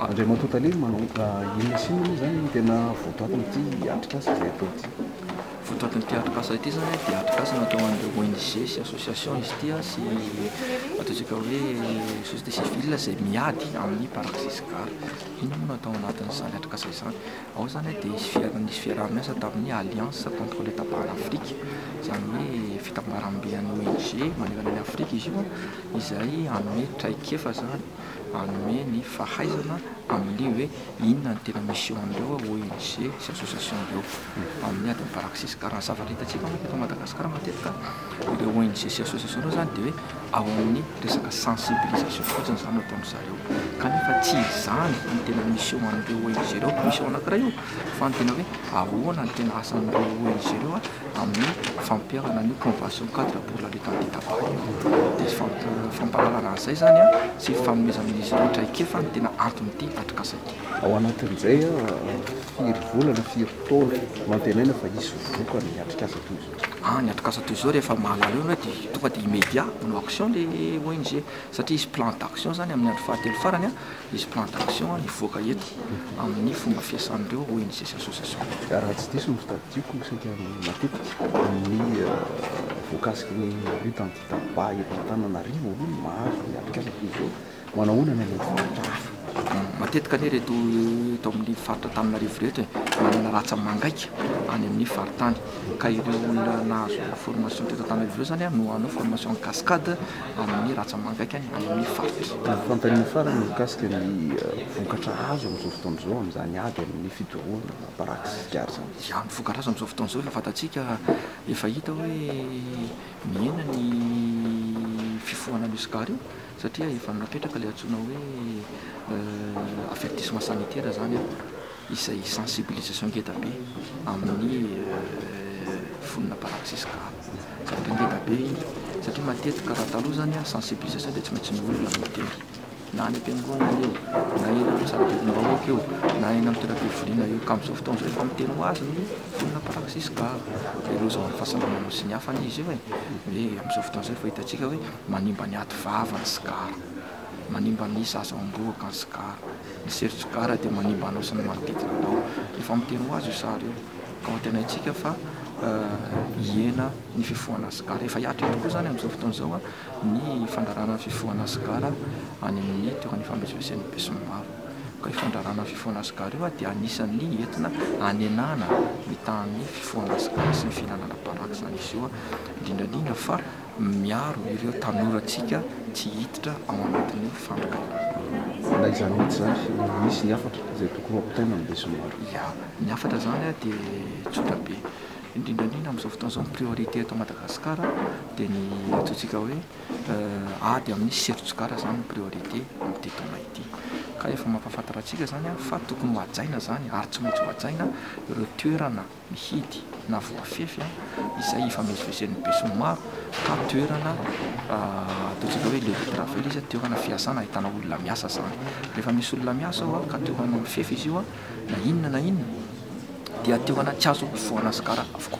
Andriamatoa Tale, manao inona sy inona moa izany no tena votoatin'ity atrikasa izay atao ity? Votoatin'ity atrikasa ity izany dia atrikasa natao ho an'ireo ONG sy association izy ity sy ataontsika hoe société civile izay miady amin'ny paraxis gar. Inona no atao anatin'izany atrikasa izany? Ao izany dia nisy fiaraha-miasa tamin'ny Alliance contre le tabac en Afrique, izany hoe fitambaram-be an'ny ONG manerana an'i Afrika izy io. izay hanome traikefa izany, hanome ny fahaizana amin'ilay hoe inona no tena mission an'ireo ONG sy association ireo amin'ny adin'ny praxis. Ka raha ny zavatra hitantsika manko eto Madagasikara matetika ireo ONG sy association ireo izany dia hoe ao amin'ny resaka sensibilisation fotsiny izany no ataon-dry zareo kanefa tsy izany no tena mission an'ireo ONG ireo. Mission anankiray io fa ny tena hoe ahoana no tena asan'ireo ONG ireo amin'ny fampiharana an'io Convention cadre pour la lutte anti-tabac io. Dia izay fampi- fampahalalana an'izay izany an, sy ny fanomezana an'izy ireo traikefa no tena anton'ity atrikasa ity. Ao anatin'izay an, firy vola na firy taona no antenaina fa hisy vokany ny atrikasa toy izao? Ah, ny atrikasa toy izao rehefa mahalala eo ianao dia tonga dia immédiat manao action ilay ONG, satria hisy plan d'action izany amin'ny andro fahatelo farany an, Hisy plan d'action hivoaka eto amin'ny fomba fiasan'ireo ONG sy association. Raha tsy diso ny tadidioko, saika matetika amin'ny voakasiky ny lutte anti-tabac eto Antananarivo aloha no mahazo ny atrikasa toy izao. Manahoana ny any amin'ny faritra hafa? Matetika anie ireto eto amin'ny faritra Antananarivo ireto e, manana ràtsa mangaika any amin'ny faritany. Ka ireo olona nahazo formation teto Antananarivo ireo izany no hanao formation en cascade. amin'ny ratsamanga hatrany amin'ny faritra. Ny fanontaniana farany mikasika ny vokatra azo amin'izao fotoana izao amin'izany ady amin'ny fidorohana baraka sy sigara izany. Dia ny vokatra azo amin'izao fotoana izao efa fantatsika, efa hita hoe mihena ny fifohana an'io sigara io satria efa napetraka ilay antsoina hoe avertissement sanitaire izany. izay sensibilisation ngedabe amin'ny vonona mpanao tsisigaro satria ngedabe iny satria matetika raha taloha zany a sensibilisation dia tsy maintsy ny olona no miteny na any am-piangonana io na eny amin'ny salobedim-bahoaka io na eny amin'ny toeram-pivoriana io ka amin'izao fotoana izao efa miteny ho azy ny vonona mpanao tsisigaro dia loza ho an'ny fahasalamana sy ny hafa anie izy io e hoe amin'izao fotoana izao efa hitantsika hoe manimba ny aty vava ny sigara Manimba ny zaza ao am-bohoka ny sigara. Ny sery tsigara dia manimba anao sy ny manodidina anao. Efa miteny ho azy io sary io ka hoantenaintsika fa hihena ny fifohana sigara. Efa hihatra ihany koa izany amin'izao fotoana izao ny fandrarana ny fifohana sigara any amin'ny toerana ifamezivezen'ny besinimaro. Ka io fandrarana ny fifohana sigara io dia anisan'ny entina hanenana ny tahan'ny fifohana sigara sy ny fihinanana baraka izany izy io, indrindra indrindra fa miaro ireo tanorantsika tsy hiditra ao anatin'ny fandrakariva. Na izany mihitsy izany, misy ny hafatra izay tokony ho ampitaina amin'ny besinimaro. Ya, ny hafatra izany dia tsotra be. Indrindra indrindra amin'izao fotoana izao ny priorité eto Madagasikara dia ny antsointsika hoe ady amin'ny seron-tsigara izany no priorité amin'ity taona ity. Ka efa mampahafantatra antsika izany fa tokony ho hajaina izany ary tsy maintsy ho hajaina ireo toerana mihidy na voafefy izay ifamezivezen'ny besinimaro ka toerana ataontsika hoe lieu de travail izy, toerana fiasana ahitana olona miasa izany. Rehefa misy olona miasa ao ka te ho any amin'ny fefy izy io na inona na inona dia toerana tsy azo ivoahana sigara avokoa.